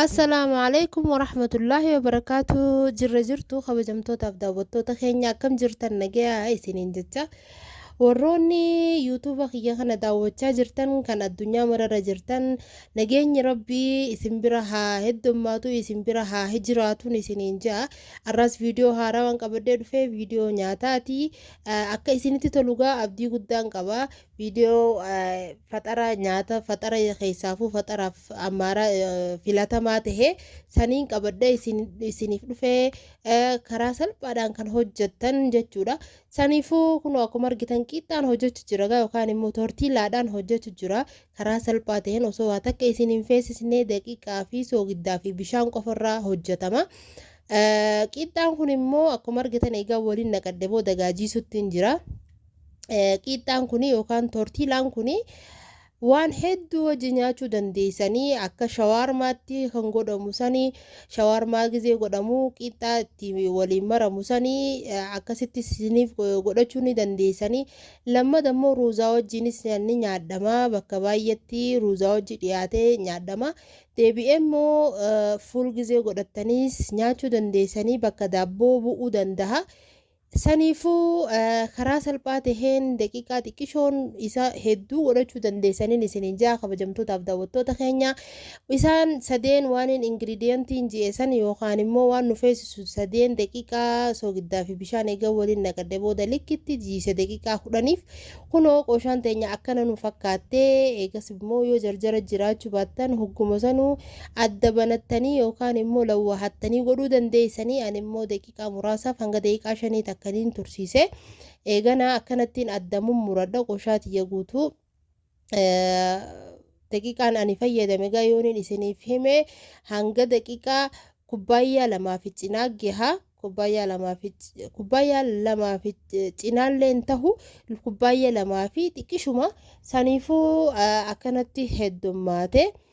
Assalaamu alaikum warahmatullaahi wabarakaatu jirra jirtu kabajamtootaaf daawwattoota keenya akkam jirtan nagayaa isiniin jecha Warroonni YouTube kiyya kana daawwachaa jirtan kan addunyaa mararra jirtan nageenyi rabbii isin bira haa heddommaatu isin bira haa hijiraatun isiniin ja'a arraas viidiyoo haaraa waan qabadhee dhufee viidiyoo nyaataati akka isinitti tolugaa abdii guddaan qaba viidiyoo faxara nyaata faxara keessaafuu faxaraaf ammaaraa filatamaa tahee saniin qabadhee isiniif dhufee karaa salphaadhaan kan hojjettan jechuudha Saniifuu kunoo akkuma argitan qiixxaan hojjechu jira gaa yookaan immoo tortiilaadhaan hojjechu jira. Karaa salphaa ta'een osoo waa takka isin hin feesisne daqiiqaa fi soogiddaa fi bishaan qofarraa hojjetama. Qiixxaan kun immoo akkuma argitan egaa waliin naqadhe booda gaajiisutti hin jira. Qiixxaan kun yookaan tortiilaan kun Waan hedduu wajji nyaachuu dandeessanii akka shawaarmaatti kan godhamu sani shawaarmaa gizee godhamu qiixxaa itti waliin maramu sani akkasitti isiniif godhachuu ni dandeessanii lammada immoo ruuzaa wajjiinis ni nyaadhama bakka baay'eetti ruuzaa wajji dhiyaatee nyaadhama deebi'ee immoo fuul gizee godhattaniis nyaachuu dandeessanii bakka daabboo bu'uu dandaha Saniifuu karaa salphaa taheen daqiiqaa xiqqishoon isa hedduu godhachuu dandeessaniin isiniin ja'a kabajamtootaaf daawwattoota keenya. Isaan sadeen waaniin ingiridiyantiin ji'e san yookaan immoo waan nu feesisu sadeen daqiiqaa soogiddaa fi bishaan eega waliin naqadhe booda likkitti jiise daqiiqaa kudhaniif kunoo qooshaan teenya akkana nu fakkaattee eegas immoo yoo jarjara jiraachuu baattan hogguma sanuu adda banattanii yookaan immoo lawwaahattanii godhuu dandeessanii ani immoo daqiiqaa muraasaaf hanga daqiiqaa shanii takka niin tursiise. Eeganaa akkanattiin adda mummuradha qoshaa tiyya guutuu. Daqiiqaan ani fayyadame egaa yooniin isiniif hime hanga daqiiqaa kubbaayyaa lamaa fi cinaa gaha. Kubbaayyaa lamaa fi kubbaayyaa lamaa fi cinaallee hin tahu kubbaayyaa lamaa fi xiqqishuma saniifuu akkanatti heddummaate.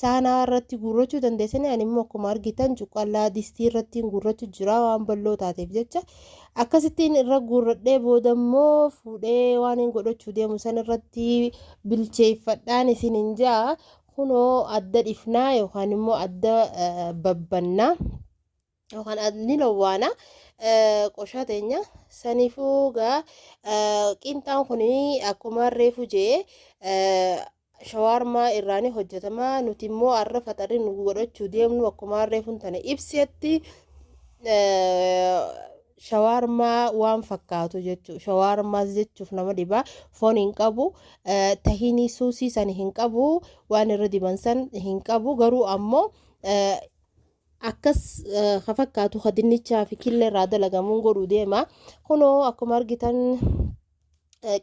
Saanaa irratti guurrachuu dandeessanii ani immoo akkuma argitan cuqqallaa distii irrattiin guurrachu jira waan bal'oo taateef jecha akkasittiin irra guurradhee booda immoo fuudhee waan hin godhachuu deemu san irratti bilcheeffadhaan isin hin ja'a kunoo adda dhifnaa yookaan immoo adda babbannaa. yookaan ad- ni lowwaana eh, qoshaa teenya saniifuu gaa eh, qiinxaan kun akkuma reefu jee eh, shawaarmaa irraani hojjetama nuti immoo arra faxarri nu godhachuu deemnu akkuma reefun tana ibsetti eh, shawaarmaa waan fakkaatu jechuu shawaarmaas jechuuf nama dhibaa foon hin qabu eh, tahinii suusii san hin qabu waan irra diban san hin qabu garuu ammoo eh, Akkas ka fakkaatu ka dinnichaa fi killee irraa dalagamuun godhuu deema. Kunoo akkuma argitan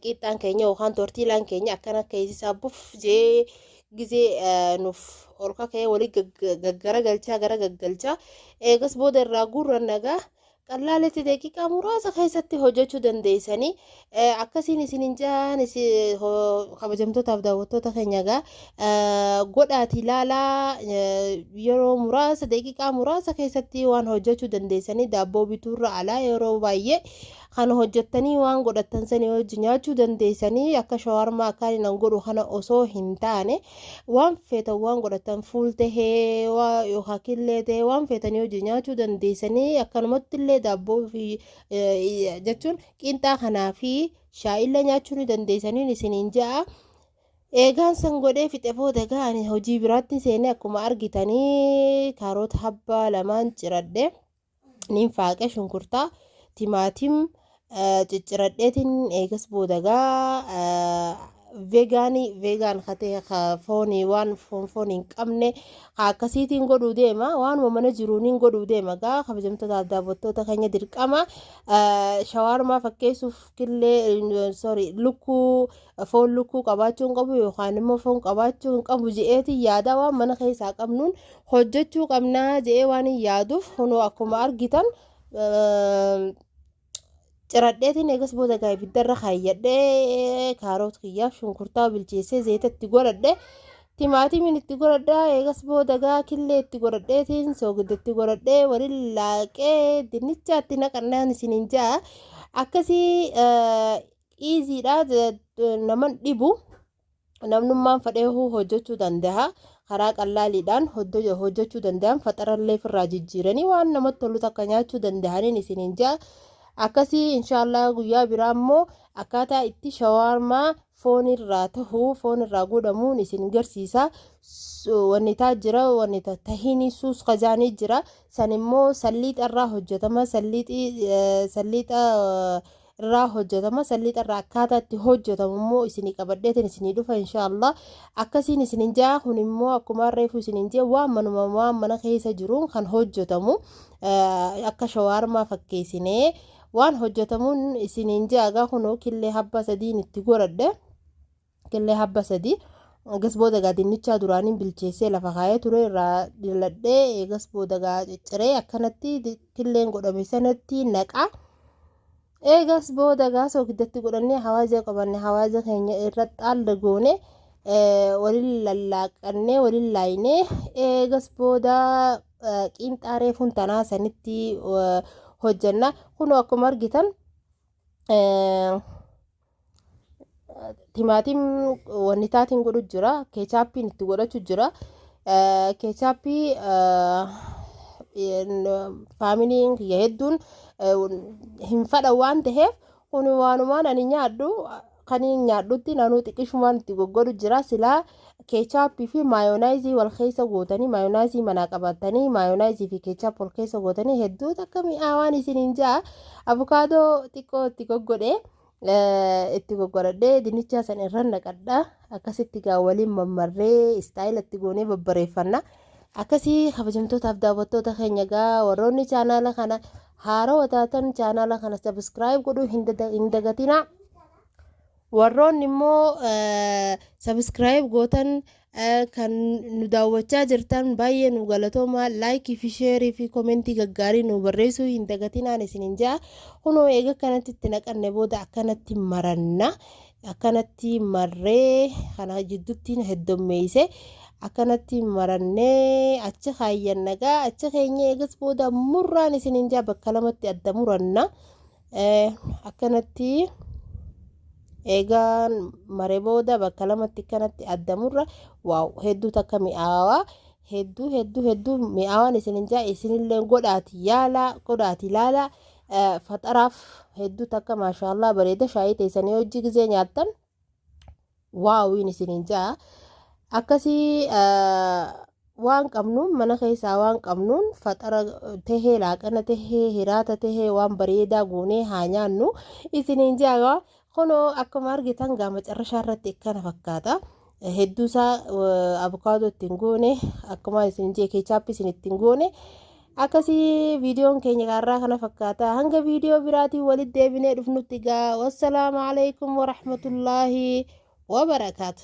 qiixxaan keenya yookaan tortiilaan keenya akkana keessisaa buf jee gizee nuuf ol kaka'ee walii gaggaragalchaa gara gaggalchaa eegas booda irraa guurran nagaa Qallaalitti daqiiqaa muraasa keessatti hojjechuu dandeessanii akkasiin isin hin jaan kabajamtootaaf daawwattoota keenya egaa godhaati ilaalaa yeroo muraasa daqiiqaa muraasa keessatti waan hojjechuu dandeessanii daabboo bituurra alaa yeroo baay'ee kan hojjettanii waan godhattan sanii hojii nyaachuu dandeessanii akka shawarmaa akkaan hin godhu kana osoo hin taane waan feetan waan godhatan fuul tahee waa yookaan killee tahee waan feetanii hojii nyaachuu dandeessanii akkanumatti illee daabboo fi jechuun qinxaa kanaa fi shaayillee nyaachuu ni dandeessaniin isiniin ja'a. Eegaan san godhee fixe booda ga'an hojii biraatti seenee akkuma argitanii kaaroota habbaa lamaan ciradhe. nin faaqe shunkurtaa timaatim cicciradheetin eegas boodagaa veegaanii veegaan katee ka foonii waan foon foon hin qabne ka akkasiitiin godhuu deema waanuma mana jiruuniin godhuu deema gaa kabajamtoota daawwattoota keenya dirqama shawaarmaa fakkeessuuf killee sorry lukkuu foon lukkuu qabaachuu hin qabu yookaan immoo foon qabaachuu hin qabu je'eetiin yaadaa waan mana keessaa qabnuun hojjechuu qabnaa je'ee waan hin yaaduuf kunoo akkuma argitan ciradheetiin eegas booda gaa ibiddarra kaayyadhee kaaroot kiyyaaf shunkurtaa bilcheessee zayita itti godhadhe timaatimiin itti godhadhaa eegas booda gaa killee itti godhadheetiin soogidda itti godhadhee waliin laaqee dinnichaatti naqannaan isiniin ja'a akkasii iiziidha naman dhibu namnummaan fadhee hojjechuu danda'a karaa qallaaliidhaan hojjechuu danda'an faxarallee firraa jijjiiranii waan namatti tolu takka nyaachuu danda'aniin isiniin ja'a akkasii inshaallah guyyaa biraa immoo akkaataa itti shawaarmaa foon irraa tahu foon irraa godhamuun isin garsiisa wanni taa jira wanni tahinii suus kajaanii jira san immoo salliixa irraa hojjetama salliixa irraa hojjetama san lixa irraa akkaataa itti hojjetamu immoo isinii qabadheetiin isinii dhufa inshaallah akkasiin isinin ja'a kun immoo akkuma reefu isinin jee waan manuma waan mana keessa jiruun kan hojjetamu akka shawaarmaa fakkeessinee waan hojjetamuun isinin ja'a gaa kunoo killee habbaa sadiin itti godhadhe Killee habba sadii eegas booda gaa dinnichaa duraaniin bilcheessee lafa kaayee ture irraa diladhee eegas booda gaa cicciree akkanatti killeen godhame sanatti naqa. Eegas booda gaa sookiddatti godhannee hawaaja qabanne hawaaja keenya irra xaalda goone waliin lallaaqannee waliin laaynee eegas booda qiinxaa reefuun tanaa sanitti hojjanna. Kunoo akkuma argitan. Timaatim wanni taatiin godhu jira. Keechaappiin itti godhachu jira. Keechaappii faamiliin kiyya hedduun hin fadha waan ta'eef kun waanumaan ani nyaadhu kan nyaadhutti naanuu xiqqishumaan itti goggodhu jira silaa keechaappii fi maayonaayizii wal keessa gootanii maayonaayizii manaa qabattanii maayonaayizii fi keechaap wal keessa gootanii hedduu takka mi'aawaan isiniin ja'a abukaadoo xiqqoo itti goggodhe itti goggodhadhee dinnichaa san irra naqadha akkasitti gaa waliin mammarree istaayila itti goonee babbareeffanna akkasii kabajamtootaaf daawwattoota keenya gaa warroonni chaanaala kana haarawa taatan chaanaala kana sabiskiraayib godhuu hin dagatinaa Warroonni immoo subscribe gootan kan nu daawwachaa jirtan baay'ee nu galatooma like fi share fi komentii gaggaarii nu barreessuu hin dagatinaan isinin ja'a kunoo eega kanatti itti naqanne booda akkanatti maranna akkanatti marree kana jidduttiin heddommeeyse akkanatti marannee achi kaayyan nagaa achi keenya eegas booda murraan isinin ja'a bakka lamatti adda muranna Akkanatti eegaan mare booda bakka lamatti kanatti addamurra waaw hedduu takka mi'aawaa hedduu hedduu hedduu mi'aawaan isin hin jaa isinillee godhaati yaalaa godhaati ilaalaa faxaraaf hedduu takka maashaallah bareeda shaayii teessanii hojii gizee nyaattan. waawiin isiniin ja'a akkasii waan qabnuun mana keessaa waan qabnuun faxara tahee laaqana tahee hiraata tahee waan bareedaa goonee haa nyaannu isiniin ja'a kunoo akkuma argitan gaa macarrashaa irratti akkana fakkaata. hedduusaa abukaadoo ittiin goone akkuma isin jee keechaappii isin ittiin goone Akkasii viidiyoon keenya gaarraa kana fakkaata. Hanga viidiyoo biraatiin walitti deebinee dhufnutti gaa. Wassalaamu alaikum warahmatullaahi wabarakaatu.